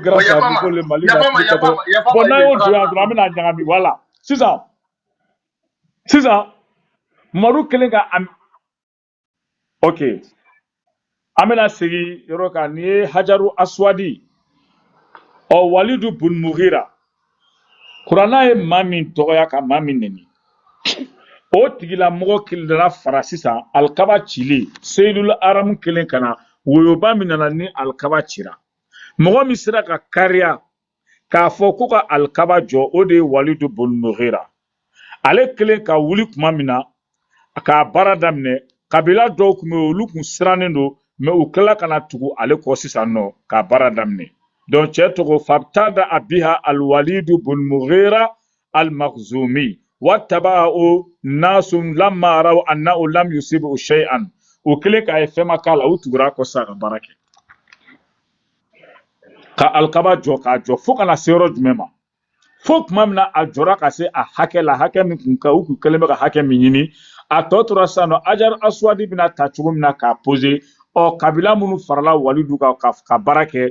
grâce à Nico le Mali ka tile kɛtɔ bon n'an y'o don yan dɔrɔn an bɛna ɲagami voilà sisan sisan Mamadu kɛlen ka am ok an bɛna segin yɔrɔ kan nin ye Hajaru Aswadi ɔ Walidu bun Mughira kuranna ye maa min dɔgɔya ka maa min neni o tigilamɔgɔ kilidara fara sisan alikaba cili seyidul aramu kɛlen ka na woyoba min nana ni alikaba cira mɔgɔ min sera ka kariya k'a fɔ ko ka alikaba jɔ o de ye walidu bun mugira ale kɛlen ka wuli tuma min na k'a baara daminɛ kabila dɔw tun bɛ yen olu tun sirannen don mais u tila ka na tugu ale kɔ sisan nɔ k'a baara daminɛ donc cɛ tɔgɔ fabtada'a biha alwalidu bun mugira al-makhzumi wattaba'u nasun lamma ra'aw annahu lam yusibu shay'an o kɛlen k'a ye fɛn ma k'a la u tugura kɔ sa ka baara kɛ ka alikaba jɔ k'a jɔ fo ka na se yɔrɔ jumɛn ma fo tuma min na a jɔra ka se a hakɛ la hakɛ min kun ka u kun kɛlen bɛ ka hakɛ min ɲini a tɔ tora sisan nɔ hajar aswadi bɛna ta cogo min na k'a pose ɔ kabila minnu farala walidu kan ka, ka baara kɛ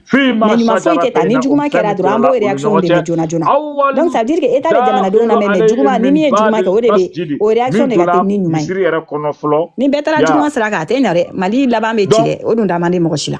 Ɲuman foyi tɛ ta ni juguman kɛra dɔrɔn an b'o reaction de ye joona joona donc ça veut dire que Etat bɛ jamanadenw lamɛn mais juguman ni min ye juguman kɛ o de bɛ o reaction de ka teli ni ɲuman ye ni bɛɛ taara juguman sira kan a tɛ ɲɛ dɛ Mali laban bɛ ci dɛ o dun da man di mɔgɔ si la.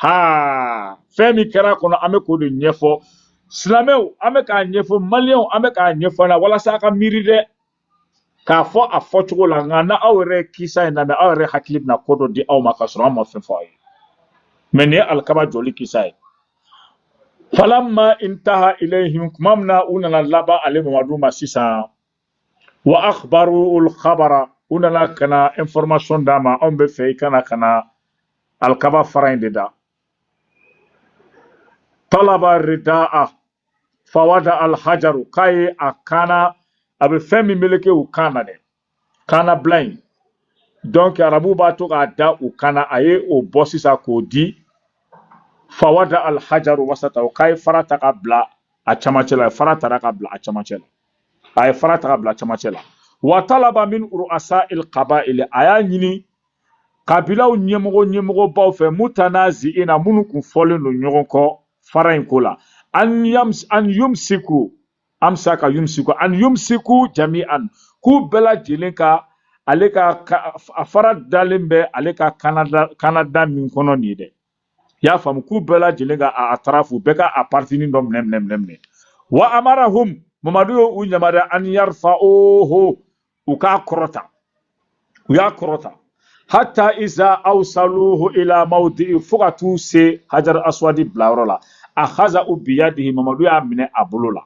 haa fɛn min kɛra kɔnɔ an bɛ k'o de ɲɛfɔ silamɛw an bɛ k'a ɲɛfɔ maliyɛnw an bɛ k'a ɲɛfɔ la walasa a ka miiri dɛ k'a fɔ a fɔcogo la nka n'aw yɛrɛ kisa in lamɛn aw yɛrɛ hakili bɛna ko dɔ di aw ma k'a sɔrɔ an ma fɛn fɔ aw ye mais nin ye alikaba jɔli kisa ye falamma intaha ilayhim tuma min na u nana laban ale mamadu ma sisan wa akhbaruhul khabara u nana ka na information d'a ma anw b'a fɛ i ka na ka na alikaba fara in de da talaba rida'a fawada alhajaru k'a ye a kan na a bɛ fɛn min meleke u kan na dɛ kannabila in donc arabu b'a to k'a da u kan na a ye o bɔ sisan k'o di fawada alhajaru wasatahu k'a ye fara ta ka bila a camancɛ la fara tara ka bila a camancɛ la a ye fara ta ka bila camancɛ la wa talaba min ru'asa il qaba'il a y'a ɲini kabilaw ɲɛmɔgɔ ɲɛmɔgɔbaw fɛ mutanazi'ina minnu kun fɔlen don ɲɔgɔn kɔ fara in ko la an yams an yumsiku amsaka yumsiku an yumsiku jami'an k'u bɛɛ lajɛlen ka ale ka a fara dalen bɛ ale ka kannada kannada min kɔnɔ nin ye dɛ i y'a faamu k'u bɛɛ lajɛlen ka a tarafu bɛɛ ka a paritinin dɔ minɛ minɛ minɛ minɛ wa amarahum mamadu y'o u yamaruya an yarfa'uhu u k'a kɔrɔta u y'a kɔrɔta hatta iza awsaluhu ila mawdi'i fo ka t'u se hajar aswadi bilayɔrɔ la ahazahu biyadihi mamadu y'a minɛ a bolo la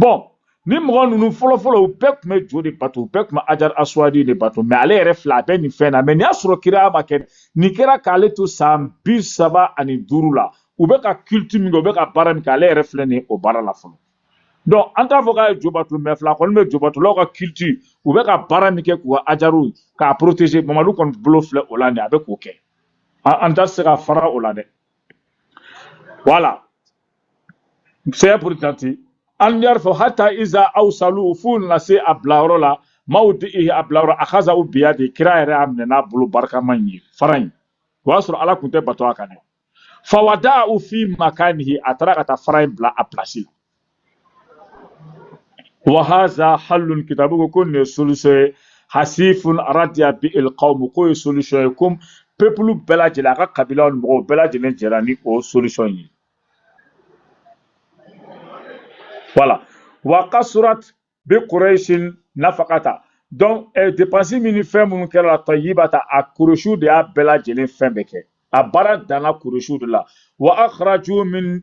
bɔn ni mɔgɔ ninnu fɔlɔfɔlɔ u bɛɛ tun bɛ jo de bato u bɛɛ tun bɛ hajar aswadi de bato mɛ ale yɛrɛ filɛ a bɛ nin fɛn na mɛ nin y'a sɔrɔ kira ma kɛ nin kɛra k'ale to san bi saba ani duuru la u bɛ ka kiliti min kɛ u bɛ ka baara min kɛ ale yɛrɛ filɛ nin o baara la fɔlɔ dɔn an t'a fɔ k'a ye jo bato mɛ filɛ kɔni bɛ jo batolaw ka kiliti u bɛ ka baara min kɛ k'u ka ajaru k'a protege mamadu kɔni bolo filɛ o la nin a bɛ k'o kɛ an tɛ se ka fara o la dɛ wala saya burita ten an yarfa'uhu hata iza awsaluhu f'u nana se a bilayɔrɔ la mawdi'ihi a bilayɔrɔ akazahu biyadi kira yɛrɛ y'a minɛ n'a bolo barikama in ye fara in o y'a sɔrɔ ala tun tɛ bato a kan dɛ fawada'ahu fi makanihi a taara ka taa fara in bila a pilasi la wa haza halun kitabu ko ko nin solution ye hasifun radiya bihil qawm ko ye solution ye comme peuple bɛɛ lajɛlen a ka kabilaw ni mɔgɔw bɛɛ lajɛlen jɛra ni o solution ye voilà wa kasurat bi quraishin nafaqata donc eh, dépense min ni fɛn minnu kɛra la tayyibata a kureshiw de y'a bɛɛ lajɛlen fɛn bɛɛ kɛ a baara danna kureshiw de la wa akhraju min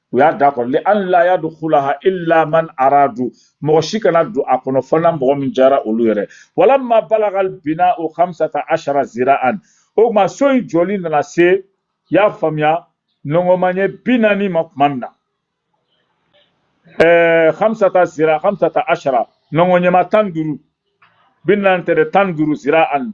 u y'a da kɔrɔta li an la yadkulaha illa man aradu mɔgɔ si kana don a kɔnɔ fo n'a mɔgɔ min jara olu yɛrɛ walamma balagal bina'u hamsata ashara zira'an o tuma so in jɔli nana se y'a faamuya nɔngɔnmaɲɛ bi naani ma tuma min na ɛɛ hamsata zira hamsata ashara nɔngɔnɲɛma tan duuru bi naani tɛ dɛ tan duuru zira'an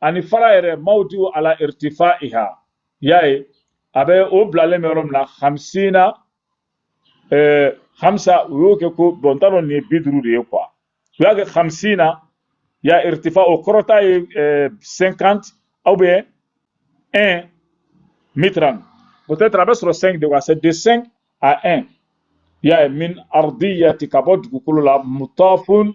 ani fara yɛrɛ mawdiu ala irtifaiha y'a ye a bɛ o bilalen bɛ yɔrɔ min na hamsina eh, hamsa u y'o kɛ ko bɔn n t'a dɔn nin ye bi duuru de ye kuwa u y'a kɛ hamsina ya irtifa o kɔrɔta ye eh, 50 ou bien 1 mitran peut-être a bɛ sɔrɔ 5 de quoi c'est de 5 à 1 y'a ye min ardiyati ka bɔ dugukolo la mutafun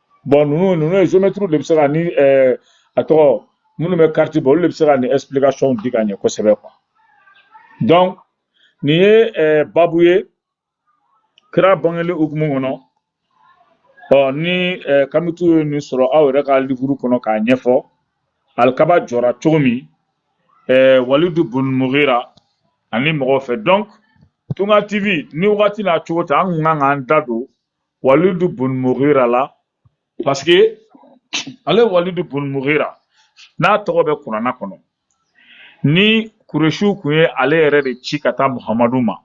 bɔn ninnu ninnu ye zomɛtiriw de bɛ se ka ni ɛɛ a tɔgɔ minnu bɛ kariti bɔ olu de bɛ se ka nin ɛsipilikasɔnw di ka ɲɛ kosɛbɛ kuwa donc nin ye ɛɛ babu ye kira bangeli hukumu kɔnɔ ɔ ni ɛɛ kamitiw ye nin sɔrɔ aw yɛrɛ ka livuru kɔnɔ k'a ɲɛfɔ alikaba jɔra cogo min ɛɛ walidu bun mugira ani mɔgɔw fɛ donc tunga tv ni wagati n'a cogo tɛ an kun ka kan k'an da don walidu bun mugira la parce que ale walidu bun mugira n'a tɔgɔ bɛ kurana kɔnɔ ni kuresiw kun ye ale yɛrɛ de ci ka taa muhamadu ma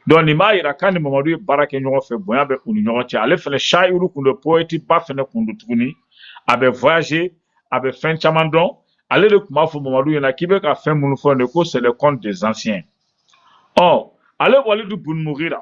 donc nin b'a yira k'a ni mamadu ye baara kɛ ɲɔgɔn fɛ bonya bɛ u ni ɲɔgɔn cɛ ale fɛnɛ shayiru kun don poɛti ba fɛnɛ kun don tuguni a bɛ voyage a bɛ fɛn caman dɔn ale de tun b'a fɔ mamadu ɲɛna k'i bɛ ka fɛn minnu fɔ nin ko c'est le conte des anciens ɔ ale walidu bun mugira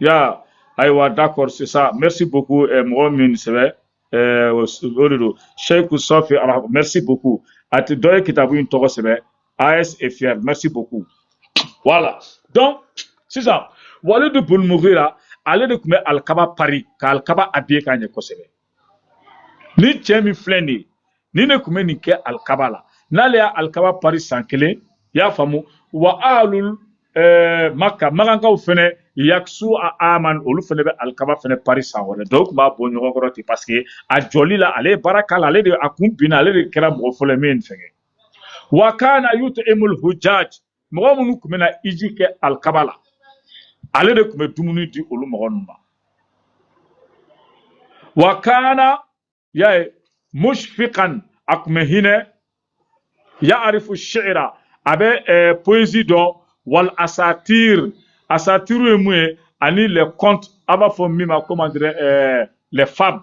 ya ayiwa d'accord c'est ça merci beaucoup eh, mɔgɔ min sɛbɛ eh, o s- o de don Sheikh Safi Al- merci beaucoup a tɛ dɔ ye kitabu in tɔgɔ sɛbɛ AS est fier merci beaucoup voilà donc sisan Walid bun Mughira ale de tun bɛ alikaba pari ka alikaba habiller ka ɲɛ kosɛbɛ ni cɛ min filɛ nin ye nin de tun bɛ nin kɛ alikaba la n'ale y'a alikaba pari san kelen i y'a faamu wa ahlul eh, maka makankaw fɛnɛ yakisuha aman olu fɛnɛ bɛ alikaba fɛnɛ pari san wɛrɛ donc u tun b'a bɔ ɲɔgɔn kɔrɔ ten paseke a jɔli la ale ye baara k'a la ale de a kun binna ale de kɛra mɔgɔ fɔlɔ ye min ye nin fɛn kɛ wa kana yutu'imul hujaj mɔgɔ minnu tun bɛ na hiji kɛ alikaba la ale de tun bɛ dumuni di olu mɔgɔ ninnu ma wa kana y'a ye mushfiqan a tun bɛ hinɛ ya'arifu shi'ira a bɛ eh, poésie dɔn wal asatir asatiru ye mun ye ani les contes a b'a fɔ min ma comment dirais eh, les fables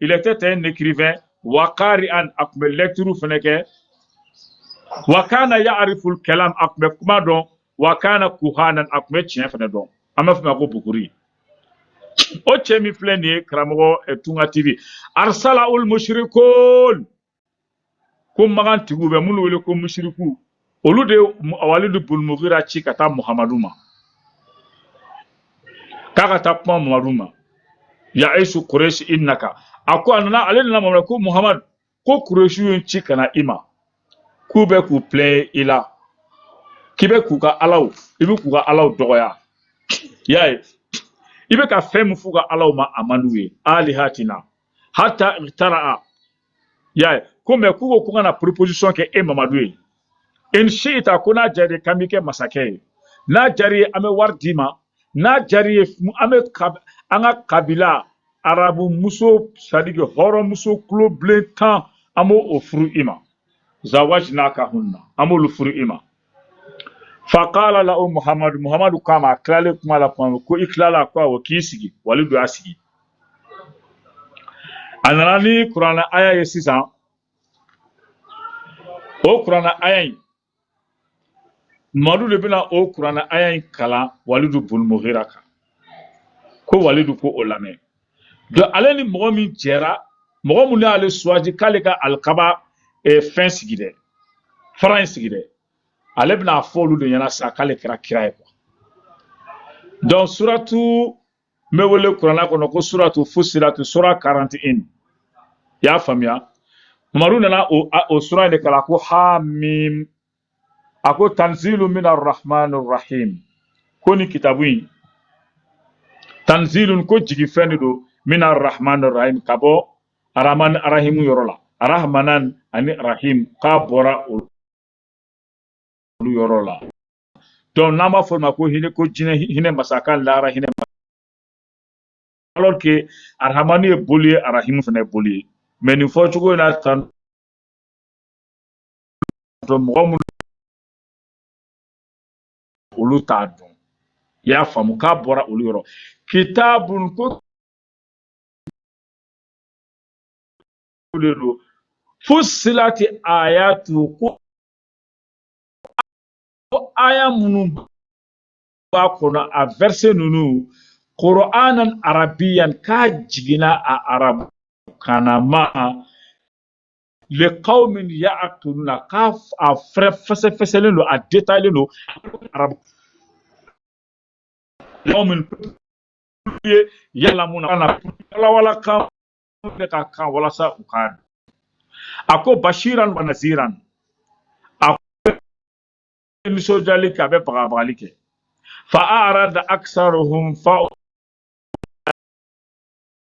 il était un écrivain wa qari'an a tun bɛ lecture fana kɛ wa kana ya'riful kalam a tun bɛ kuma dɔn wa kana kuhanan a tun bɛ tiɲɛ fana dɔn an b'a fɔ a ma ko buguri o cɛ min filɛ nin ye karamɔgɔ eh, tunga tv arsalahul mushrikun ko makan tigiw bɛ minnu wele ko musiriku olu de ye walidu bun mugira ci ka taa muhamadu ma k'a ka taa kuma muhamadu ma ya aisu kuresi i naka a ko a nana ale nana mamadu ko muhamadu ko kuresi ye n ci ka na i ma k'u bɛ k'u pilɛɲɛ i la k'i bɛ k'u ka alaw i bɛ k'u ka alaw dɔgɔya y'a ye i bɛ ka fɛn min f'u ka alaw ma a man d'u ye alihatina hata tara a y'a ye comme k'u ko ko n ka na proposition kɛ e mamadu ye in shi'ta ko n'a jar'i k'an b'i kɛ masakɛ ye n'a jar'i ye an bɛ wari d'i ma n'a jar'i ye an bɛ an ka kabila arabu muso c'est-à-dire que hɔrɔn muso kulo bilen tan an b'o furu i ma zawajinaka hunna an b'olu furu i ma fakala lahu muhamadu muhamadu k'a ma a tilalen kuma la kuma min ko i tilala ko awɔ k'i sigi walidu y'a sigi a nana ni kurana aya ye sisan o kurana aya in mamadu de bɛna o kurana aya in kalan walidu bun mugira kan ko walidu ko o lamɛn donc ale ni mɔgɔ min jɛra mɔgɔ min y'ale choisi k'ale ka alikaba eh, fɛn sigi dɛ fara in sigi dɛ ale bɛna a fɔ olu de ɲɛna sa k'ale kɛra kira ye quoi donc suratu in bɛ wele kurana kɔnɔ ko suratu fusilatu sura 41 i y'a faamuya mamadu nana o, o sura in de kalan ko hamim a ko tanzilu min arrahmani rahim ko nin kitabu in tanzilun ko jigi fɛn de don min arrahmani rahim ka bɔ arahmani arahimu yɔrɔ la arahmanan ani rahim k'a bɔra olu yɔrɔ la donc n'an b'a fɔ o ma ko hinɛ ko diɲɛ hinɛ masa k'a lahara hinɛ alors que arahamani ye boli ye arahimu fana ye boli ye mais nin fɔcogo in na tan sɔrɔ mɔgɔ minnu olu t'a dɔn i y'a faamu k'a bɔra olu yɔrɔ kitabun ko de don fusilati ayatu ko ko aya minnu b'a kɔnɔ a verset ninnu qur'anan arabiyan k'a jiginna a arabu kan na likawmin y'a tunu na k'a a fɛrɛ fɛsɛfɛsɛlen don a détaillélen don arabu kawmin yalamuna walawala kan bɛ ka kan walasa u k'a dɔn a ko bashiran wa naziran a ko nisɔndiyali kɛ a bɛ bagabagali kɛ fa arada aksaruhum fa